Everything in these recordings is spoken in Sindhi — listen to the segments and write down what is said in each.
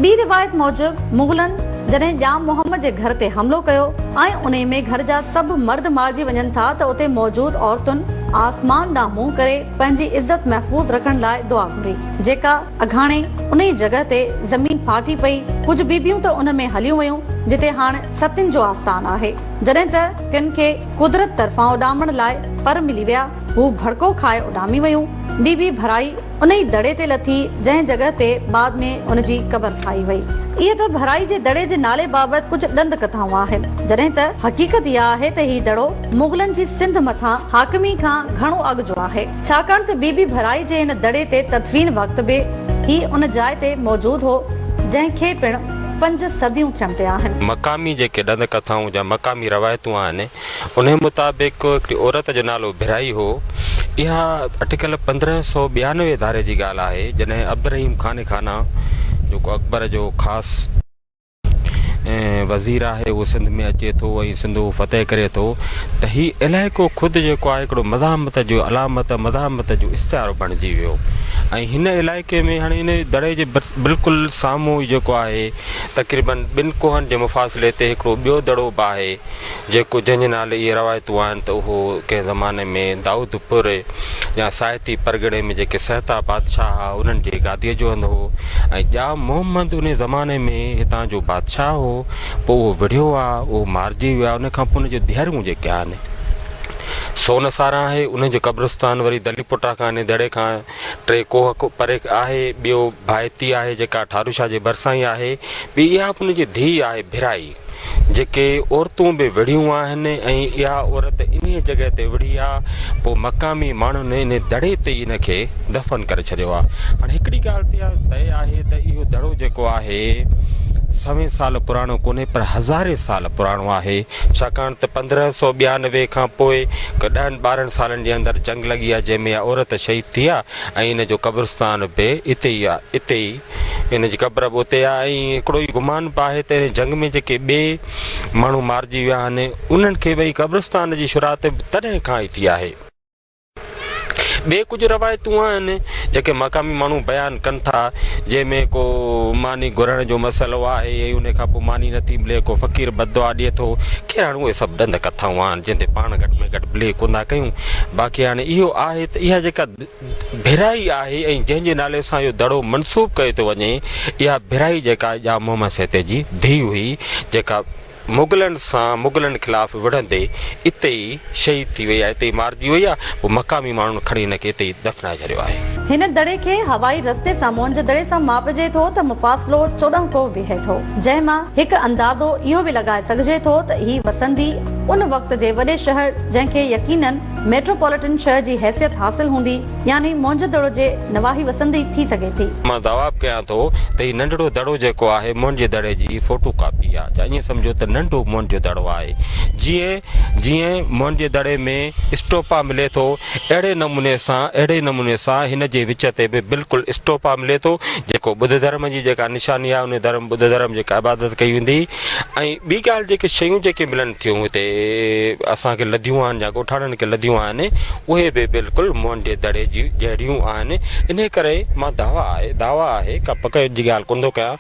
ٻي روايت موجب مغلن جڏهن ڄام محمد جي گهر تي حملو ڪيو ۽ انهي ۾ گهر جا سڀ مرد مارجي وڃن ٿا ته اتي موجود عورتن آسمان ڏانهن منهن ڪري پنهنجي عزت محفوظ رکڻ لاء دعا گهري جيڪا اگهاڻي انهي جڳهه تي زمين ڦاٽي پئي ڪجهه بيبيون ته ان ۾ هليون ويون جتي هاڻ ستين جو آستان آهي جڏهن ته ڪن کي قدرت طرفان اڏامڻ لاء پر ملي ويا هو ڀڙڪو کائي اڏامي ويون بيبي ڀرائي انهي دڙي تي لٿي، جنهن جڳهه تي بعد ۾ ان جي قبر ٺاهي وئي. اهي ته ڀرائي جي دڙي جي نالي بابت ڪجهه ڏند ڪٿائون آهن، جڏهن ته حقيقت اها آهي ته هي دڙو مغلن جي سنڌ مٿان حاڪمي کان گهڻو اڳ جو آهي، ڇاڪاڻ ته بي بي ڀرائي جي ان دڙي تي تدفين وقت به هي ان جاء تي موجود هو، جنهن کي پڻ پنج صديون ٿيڻ تي آهن. مقامي جيڪي ڏند ڪٿائون جا مقامي روايتون آهن، انهيء مطابق هڪڙي عورت جو نالو ڀرائي هو. اها اٽڪل پندرهن سؤ ٻيانوي ڌاري جي ڳالهه آهي، جڏهن عبدالرحيم قانع خانه، جيڪو اڪبر جو خاص وزير آهي، اهو سنڌ ۾ اچي ٿو ۽ سنڌو فتح ڪري ٿو ته هي علائقو خود جيڪو آهي هڪڙو مزاحمت جو علامت، مزاحمت جو استعارو بڻجي ويو ۽ هن علائقي ۾ هاڻي ان دڙي جي بلڪل سامهون ئي جيڪو آهي تقريبن ٻن ڪوهن جي مفاصلي تي هڪڙو ٻيو دڙو به آهي، جيڪو جنهن جي نالي اهي روايتون آهن ته اهو ڪنهن زماني ۾ دائودپوري يا سائتي پرڳڻي ۾ جيڪي سهتا بادشاهه هئا انهن جي گاديء جو هنڌ هو ۽ ڄام محمد انهي زماني ۾ هتان جو بادشاهه هو پوء اهو وڙهيو آ اهو مارجي ويو آ انهي کان پوء انهن جون ديهرون جيڪي آهن سون ساران آهي انهن جو قبرستان وري دلي پوٽا کان انهي دڙي کان ٽي ڪوهه پري آهي ٻيو ڀائتي آهي جيڪا ٺاروشاه جي ڀرسان ئي آهي ٻي اها به انهن جي ڌيء آهي ڀرائي جيڪي عورتون به وڙهيون آهن ۽ اها عورت انهي جڳهه تي وڙهي آ پوء مقامي ماڻهن انهي دڙي تي ئي ان کي دفن ڪري ڇڏيو آ هاڻي هڪڙي ڳالهه تي طئي آهي ته اهو دڙو جيڪو آهي سوين سال پراڻو ڪونهي پر هزارين سال پراڻو آهي ڇاڪاڻ ته پندرهن سو ٻيانوي کان پوء ڏهن ٻارهن سالن جي اندر جنگ لڳي آ جنهن ۾ اها عورت شهيد ٿي آ ۽ ان جو قبرستان به اتي ئي اتي ئي هن جي قبر به اتي آهي ۽ هڪڙو ئي گمان به آهي ته هن جنگ ۾ جيڪي ٻئي ماڻهو مارجي ويا آهن انهن کي به قبرستان جي شراط به تڏهن کان ئي ٿي آهي. ٻيون ڪجهه روايتون آهن جيڪي مقامي ماڻهو بيان ڪن ٿا جنهن ۾ ڪو ماني گهرڻ جو مسئلو آهي ۽ ان کان پوء ماني نٿي ملي ڪو فقير بددعا ڏئي ٿو خير هاڻي اهي سڀ ڏند ڪٿائون آهن جن تي پاڻ گهٽ ۾ گهٽ بليو ڪونه ٿا ڪيون باقي هاڻي اهو آهي ته اها جيڪا ڀيرائي آهي ۽ جنهن جي نالي سان اهو دڙو منسوب ڪيو ٿو وڃي اها ڀيرائي جيڪا ڄام محمد سهتي جي ڌيء هئي جيڪا مغلن سان مغلن خلاف وڙهندي اتي ئي شهيد ٿي وئي آهي اتي ئي مارجي وئي آهي پوء مقامي ماڻهن کڻي هن کي اتي ئي دفنائي ڇڏيو آهي. هن دڙي کي هوائي رستي سان موئن جو دڙي سان ماپجي ٿو ته مفاصلو چوڏهن ڪوه بيهي ٿو جنهن مان هڪ اندازو اهو به لڳائي سگهجي ٿو ته هي وسندي ان وقت جي وڏي شهر جنهن کي يقينن ميٽروپوليٽن شھر جي حيثيت حاصل ھوندي يعني موھنجو دڙو جي نواحي وسندي ٿي سگھي ٿي. مان دعواب ڪيان ٿو ته ھي ننڍڙو دڙو جيڪو آھي موھنجي دڙي جي فوٽو ڪاپي آ جا ائين سمجھو ته ننڍو موھنجو دڙو آھي جيئن جيئن موھنجي دڙي ۾ اسٽوپا ملي ٿو اھڙي نموني سان اھڙي نموني سان ھن جي وچ تي به بلڪل اسٽوپا ملي ٿو جيڪو ٻڌ ڌرم جي جيڪا نشاني آھي ان ڌرم ٻڌ ڌرم جيڪا عبادت ڪئي ويندي ۽ ٻي ڳالهه جيڪي شيون جيڪي ملن ٿيون هتي اسان کي لڌيون آهن يا ڳوٺاڻن کي لڌيون آهن اهي به بلڪل مئن جي دڙي جي جهڙيون آهن ان ڪري مان دعويٰ آهي دعويٰ آهي ڪا پڪ جي ڳالهه ڪونه ٿو ڪيان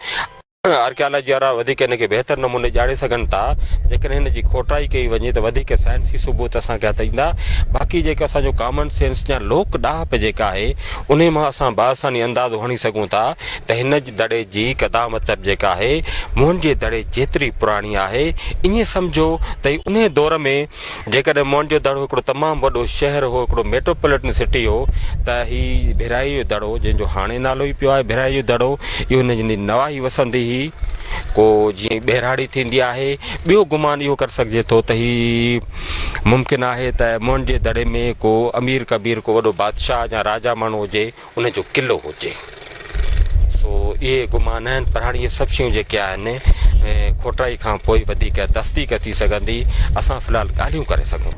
آرڪيالاجي وارا وڌيڪ ان کي بهتر نموني ڄاڻي سگهن ٿا جيڪڏهن هن جي کوٽائي ڪئي وڃي ته وڌيڪ سائنسي ثبوت اسان کي هٿ ايندا باقي جيڪو اسان جو ڪامن سينس يا لوڪ ڏاهپ جيڪا آهي انهي مان اسان بآساني اندازو هڻي سگهون ٿا ته هن جي دڙي جي قدامت به جيڪا آهي موهن جي دڙي جيتري پراڻي آهي. ائين سمجهو ته هي انهيء دور ۾ جيڪڏهن موهن جو دڙو هڪڙو تمام وڏو شهر هو، هڪڙو ميٽروپوليٽن سٽي هو ته هي ڀيرائيء جو دڙو جنهن جو هاڻي نالو ئي پيو آهي ڀيرائيء جو دڙو اهو هن جي نواحي وسندي هي. ڪو جيئن ٻهراڙي ٿيندي آهي. ٻيو گمان اهو ڪري سگهجي ٿو ته هي ممڪن آهي ته موهن جي دڙي ۾ ڪو امير ڪبير ڪو وڏو بادشاهه يا راجا ماڻهو هجي. ان جو قلعو هجي سو اهي گمان آهن پر هاڻي اهي سڀ شيون جيڪي آهن کوٽائي کان پوء وڌيڪ تصديق ٿي سگهندي اسان في الحال ڳالهيون ڪري سگهون ٿا